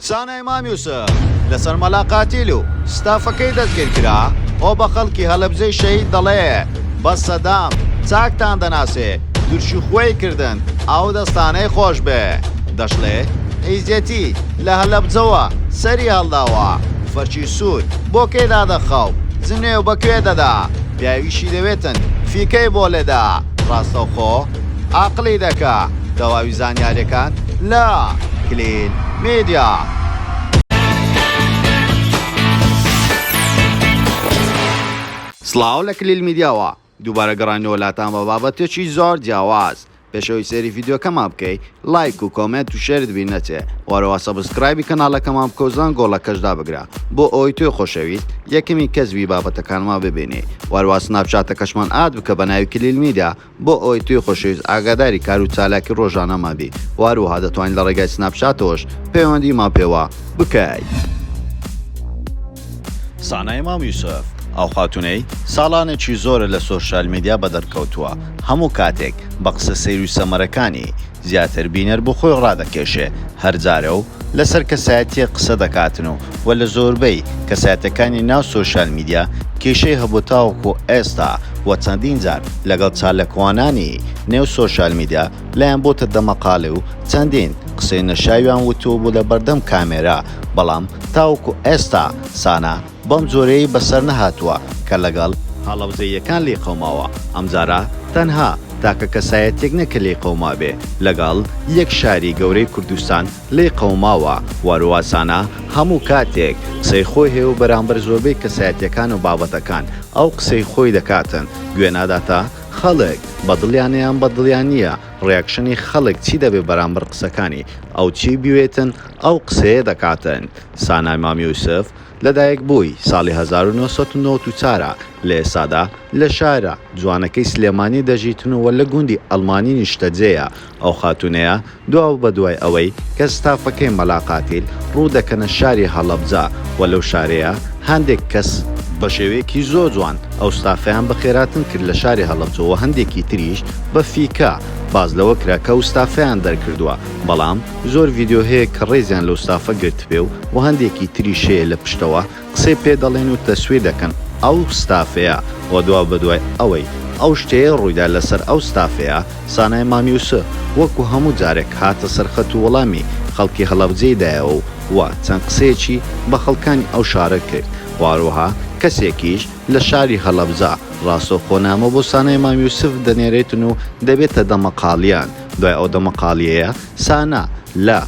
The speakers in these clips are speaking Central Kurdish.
سانای مام یوسف لەسەر مەلا قاتیل و ستافەکەی دەستگیر کرا خۆ بە خەڵکی هەلەبجەی شەهید دەڵێ بەس سەدام چاکتان دەناسێ تورشی خوێی کردن ئاو دەستانەی خۆش بێ دەشڵێ حیزیەتی لە هەلەبجەوە سەری هەڵداوە فەرشی سوور بۆ کێ دادەخا و جنێو بە کوێ دەدا پیاویشی دەوێتن فیکەی بۆ لێدا ڕاستەوخۆ ئاقلی دەکا تەواوی زانیاریەکان لە کلیل میدیا. سڵاو لە کلیل میدیاوە دووبارە گەڕانەوە لاتان بە بابەتێکی زۆر جیاواز پێشەوەی سێری یددیوکەمان بکەی لایک و کۆمنت و شێرت بی نەچێ وارەوە سەبسکرایبی کەناڵەکەمان بکەوزان گۆڵەکەشدا بگرە بۆ ئەوی توێ خۆشەویست یەکەمی کەسبی بابەتەکانمان ببینێ واروا سناپچاتەکەشمان ئاد بکە بە ناوی کلیل میدا بۆ ئەوەی توی خۆشەویست ئاگاداری کار و چالاکی ڕۆژانەمان بی و هەروەها دەتوانی لە ڕێگای سناپچاتەوەش پەیوەندیمان پێوە بکەیت. سانای مام یوسف ئەو خاتونەی ساڵانێکی زۆرە لە سۆشیال میدیا بەدەرکەوتووە هەموو کاتێک بە قسە سەیر و سەمەرەکانی زیاتر بینەر بۆ خۆی ڕادەکێشێ هەر جارە و لەسەر کەسایەتییەک قسە دەکاتن و وە لە زۆربەی کەسایەتەکانی ناو سۆشیال میدیا کێشەی هەبووە تاوەکو ئێستا وە چەندین جار لەگەڵ چاالکوانانی نێو سۆشیال میدیا لایان بۆتە دەمەقاڵێ و چەندین قسەی نەشیاویان وتووە بۆ لەبەردەم کامێرا بەڵام تاوەکو ئێستا سانا بەم جۆرەی بەسەر نەهاتووە کە لەگەڵ. هاڵەوزەییەکان لێی قەوماوە. ئەمجارە تەنها تاکە کەسایەتیەک نە کە لێی قەومابێ، لەگەڵ یەک شاری گەورەی کوردستان لێی قەوماوە و هەروەسانە هەموو کاتێک قسەی خۆی هەیە و بەرامبەر زۆربەی کەسایەتیەکان و بابەتەکان ئەو قسەی خۆی دەکاتن گوێ ناداتە خەڵک بە دڵیانە یان بە دڵیان نیە ڕیاکشنی خەڵک چی دەبێ بەرامبەر قسەکانی ئەو چی بیوێتن ئەو قسەیە دەکاتن سانا مام یوسف لە دایک بووی ساڵی هەزار و نۆ سەد و نەوەد و چوار ە، لە ئێستادا لە شارە جوانەکەی سلێمانی دەژیتن و لە گوندی ئەڵمانی نیشتەجێیە، ئەو خاتوونەیە دوابەدوای ئەوەی کە ستافەکەی مەلا قاتیل ڕوو دەکەنە شاری هەڵەبجە و لەو شارەیە هەندێک کەس، بە شێوەیەکی زۆر جوان ئەو ستافەیان بە خێراتن کرد لە شاری هەڵەبجە و هەندێکی تریش بە فیکە باس لەوە کرا کە ئەو ستافەیان دەرکردووە، بەڵام. زۆر ڤیدیۆ هەیە کە ڕێزیان لەو ستافە گرتبێ و و هەندێکی تریش هەیە لە پشتەوە قسەی پێ دەڵێن و تەسویر دەکەن ئەو ستافەیە و دوا بەدوای ئەوەی ئەو شتەیە ڕوویدا لەسەر ئەو ستافەیە سانای مانیوس وەکو هەموو جارێک هاتە سەرخەت و وەڵامی خەڵکی هەڵەبجەی دایەوە و و چەند قسەیەکی بە خەڵکانی ئەو شارە کرد و هەروەها کەسێکیش لە شاری هەڵەبجە ڕاستەوخۆ نامە بۆ سانای مام یوسف دەنێرێتن و دەبێتە دەمەقاڵیان دوای ئەو دەمەقاڵیەیە سانا لە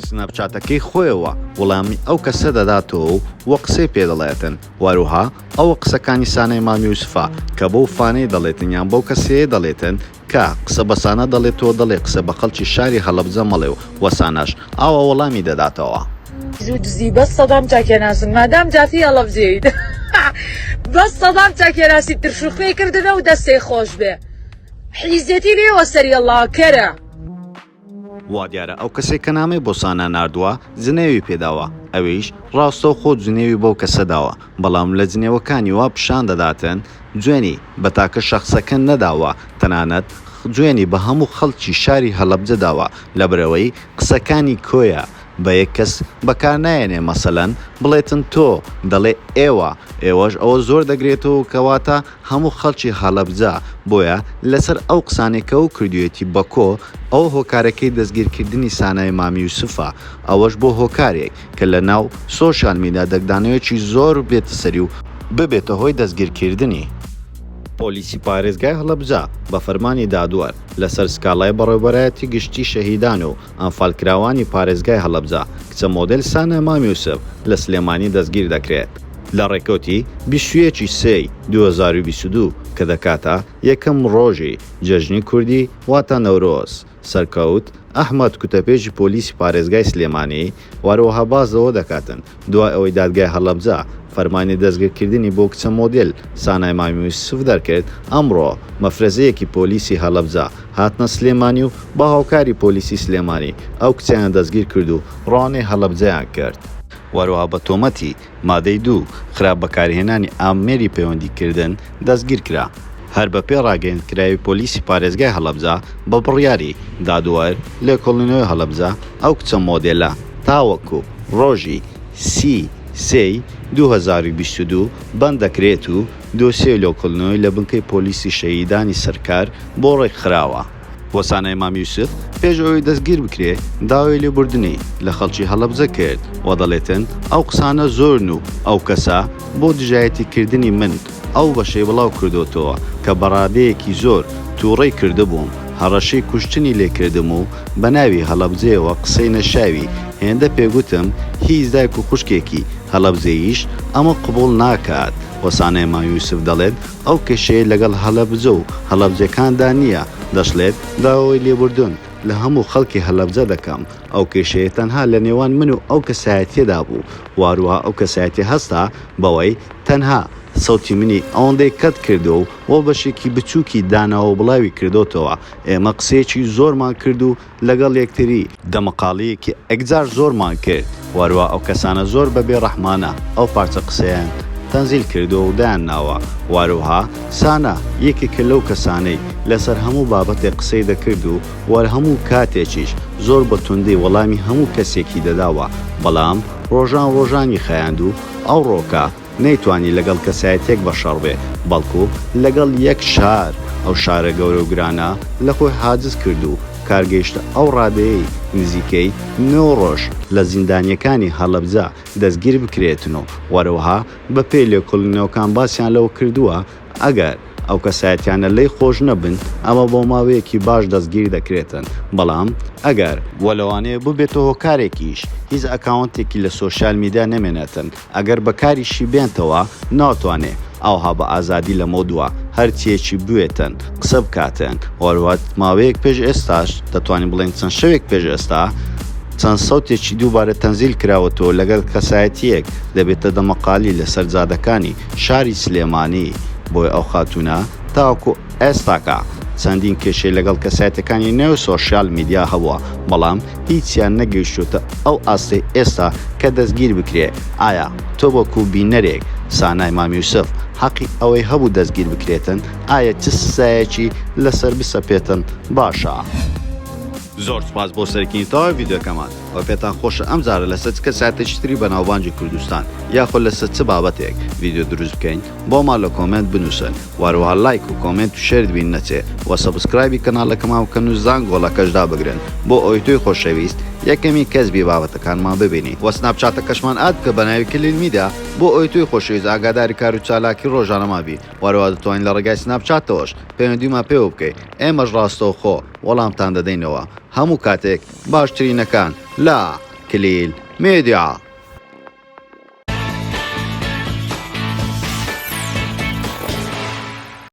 سناپچاتەکەی خۆیەوە وڵامی ئەو کەسە دەداتەوە و وە قسەی پێ دەڵێتن وەروها ئەوە قسەکانی سانای مام یوسفە کە بەو فانەی دەڵێتن یان بەو کەسەیە دەڵێتن کە قسە بە سانا دەڵێتەوە دەڵێ قسە بە خەڵکی شاری هەڵەبجە مەڵێ و وە ساناش ئاوا وەڵامی دەداتەوە. زوو دزی بەس سەدام چاکێناسن مادام جافی هەڵەبجەیت بەس سەدام چاکێناسی ترشوخوێی کردنە و دەستێ خۆشبێ. حیزێتی لێوە سەری اللە کەرە. وادیارە ئەو کەسەی کە نامەی بۆ سانا ناردووە جنێوی پێداوە ئەویش ڕاستەوخۆ جنێوی بەو کەسە داوە بەڵام لە جنێوەکانی وا پیشان دەداتن جوێنی بە تاکە شەخسەکە نەداوە تەنانەت جوێنی بە هەموو خەڵکی شاری هەڵەبجە داوە لەبەرئەوەی قسەکانی کۆیە بە یەک کەس بەکار نایەنێ مەسەلەن بڵێتن تۆ دەڵێ ئێوە ئێوەش ئەوە زۆر دەگرێتەوەو کەواتە هەموو خەڵکی هەڵەبجە بۆیە لەسەر ئەو قسانەی کەو کردویەتی بەکۆ ئەوە هۆکارەکەی دەستگیر کردنی سانای مام یوسفە ئەوەش بۆ هۆکارێک کە لە ناو سۆشیال میدا دەگدانەوێکی زۆر بێتە سەری و ببێتە هۆی دەستگیر کردنی. پۆلیسی پارێزگای هەڵەبجە بە فەرمانی دادوەر لەسەر سکاڵای بەڕێوبەرایەتی گشتی شەهیدان و ئەنفالکراوانی پارێزگای هەڵەبجە، کچە مۆدێل سانا مام یوسف لە سلێمانی دەستگیر دەکرێت، لە ڕێکەوتی بیست و یەک ی سێی دوو هەزار و بیست و دوو کە دەکاتە یەکەم ڕۆژی جەژنی کوردی واتا نەورۆز، سەرکەوت ئەحمەد کوتەپێژی پۆلیسی پارێزگای سلێمانی، و هەروەها باس لەوە دەکاتن دوای ئەوەی دادگای هەڵەبجە فەرمانی دەستگرکردنی بۆ کچە مۆدێل سانای مامی یوسف دەرکرد، ئەمڕۆ مەفرەزەیەکی پۆلیسی هەڵەبجە هاتنە سلێمانی و بە هاوکاری پۆلیسی سلێمانی ئەو کچەیان دەستگیرکرد و ڕەوانەی هەڵەبجەیان کرد. و هەروەها بە تۆمەتی مادەی دوو، خراپ بەکارهێنانی ئامێری پەیوەندیکردن، دەستگیرکرا. هەر بەپێی ڕاگەیەندکراوی پۆلیسی پارێزگای هەڵەبجە، بە بڕیاری، دادوەر، لێکۆڵینەوەی هەڵەبجە، ئەو کچە مۆدێلە تاوەکو ڕۆژی سی سێ ی دوو هەزار و بیست و دوو بەنددەکرێت و دۆسیەی لێکۆڵینەوەی لە بنکەی پۆلیسی شەهیدانی سەرکار بۆ ڕێکخراوە. وەسانای مام یوسف پێش ئەوەی دەستگیر بکرێت داوای لێبوردنی لە خەڵکی هەڵەبجە کرد و دەڵێتن ئەو قسانە زۆرن و ئەو کەسە بۆ دژایەتی کردنی من ئەو بەشەی بڵاو کردۆتەوە کە بە ڕادەیەکی زۆر توڕەی کردبووم هەڕەشەی کوشتنی لێ کردم و بە ناوی هەڵەبجەیەوە قسەی نەشاوی هێندە پێ گوتم هیچ دایک و خوشکێکی هەڵەبجەییش ئەمە قبوڵ ناکات وەسانای مام یوسف دەڵێت ئەو کێشەی لەگەڵ هەڵەبجە و هەڵەبجەکاندا نییە، دەشڵێت، داوای لێبوردن لە هەموو خەڵکی هەڵەبجە دەکەم، ئەو کێشەیە تەنها لە نێوان من و ئەو کەسایەتییەدا بوو و هەروەها ئەو کەسایەتییە هەستا بەوەی تەنها سەوتی منی ئەوەندەی کەت کردووە و بەشێکی بچووکی داناوە و بڵاوی کردۆتەوە، ئێمە قسەیەکی زۆرمان کرد و لەگەڵ یەکتری. دەمەقاڵیەکی ئەکجار زۆرمان کرد وەروا ئەو کەسانە زۆر بە بێ ڕەحمانە ئەو پارچە قسەیان تەنزیل کردوە و دایان ناوە وەروها سانا یەکێکە لەو کەسانەی لەسەر هەموو بابەتێک قسەی دەکرد و وەر هەموو کاتێکیش زۆر بە توندی وەڵامی هەموو کەسێکی دەداوە بەڵام ڕۆژان ڕۆژانی خایاند و ئەوڕۆکە نەیتوانی لەگەڵ کەسایەتیەک بە شەڕ بێ بەڵکو لەگەڵ یەک شار ئەو شارە گەورە و گرانە لە خۆی حاجز کرد و کار گەیشتە ئەو ڕادەیەی نزیکەی نۆ ڕۆژ لە زیندانیەکانی هەڵەبجە دەستگیر بکرێتن و وەروەها بە پێی لێکۆڵینەوەکان باسیان لەوە کردوە ئەگەر ئەو کەسایەتیانە لێی خۆش نەبن ئەوا بۆ ماوەیەکی باش دەستگیر دەکرێتن بەڵام ئەگەر وە لەوانەیە ببێتە هۆکارێکیش هیچ ئەکاونتێکی لە سۆشیال میدیا نەمێنێتن ئەگەر بەکاریشی بێنتەوە ناتوانێ ئاوها بە ئازادی لەمەو دوا هەر چیەکی بوێتن قسە بکاتن هۆروەت ماوەیەک پێش ئێستاش دەتوانین بڵێین چەند شەوێک پێش ئێستا چەند سەوتێکی دووبارە تەنزیل کراوەتەوە لەگەل کەسایەتیەک دەبێتە دەمەقالی لەسەر جادەکانی شاری سلێمانی بۆی ئەو خاتونە تاوەکو ئێستاکە چەندین کێشەی لەگەڵ کەسایەتیەکانی نێو سۆشیال میدیا هەبووە بەڵام هیچیان نەگەیشتووتە ئەو ئاستەی ئێستا کە دەستگیر بکرێ، ئایا تۆ وەکو بینەرێک سانای مام یوسف حەقی ئەوەی هەبوو دەستگیر بکرێتن؟ ئایا چ سزایەکی لەسەر بسەپێتن باشە؟ زۆر سوپاس بۆ سەرکینی تەواوی ڤیدیۆکەمان وە پێتان خۆشە ئەم جارە لەسەر چ کەسایەتێکی تری بەناوبانگی کوردستان یاخۆ لەسەر چ بابەتێک ڤیدیۆ دروست بکەین بۆمان لە کۆمێنت بنوسن وە هەروەها لایک و کۆمێنت و شێرت بیر نەچێ وە سەبسکرایبی کەناڵەکەمان بکەن و زانگۆڵەکەش دابگرن بۆ ئەوەی تۆی خۆشەویست یەکەمین کەس بی بابەتەکانمان ببینی وە سناپچاتەکەشمان ئاد بکە بەناوی کلیل میدیا بۆ ئەوەی تۆی خۆشەویست ئاگاداری کارو چالاکی ڕۆژانەمان بی. و هەروەها دەتوانی لە ڕێگای سناپ چاتەوەش پەیوەندیمان پێوە بکەی ئێمەش ڕاستەوخۆ وەڵامتان دەدەینەوە هەموو کاتێک باشترینەکان لە کلیل میدیا.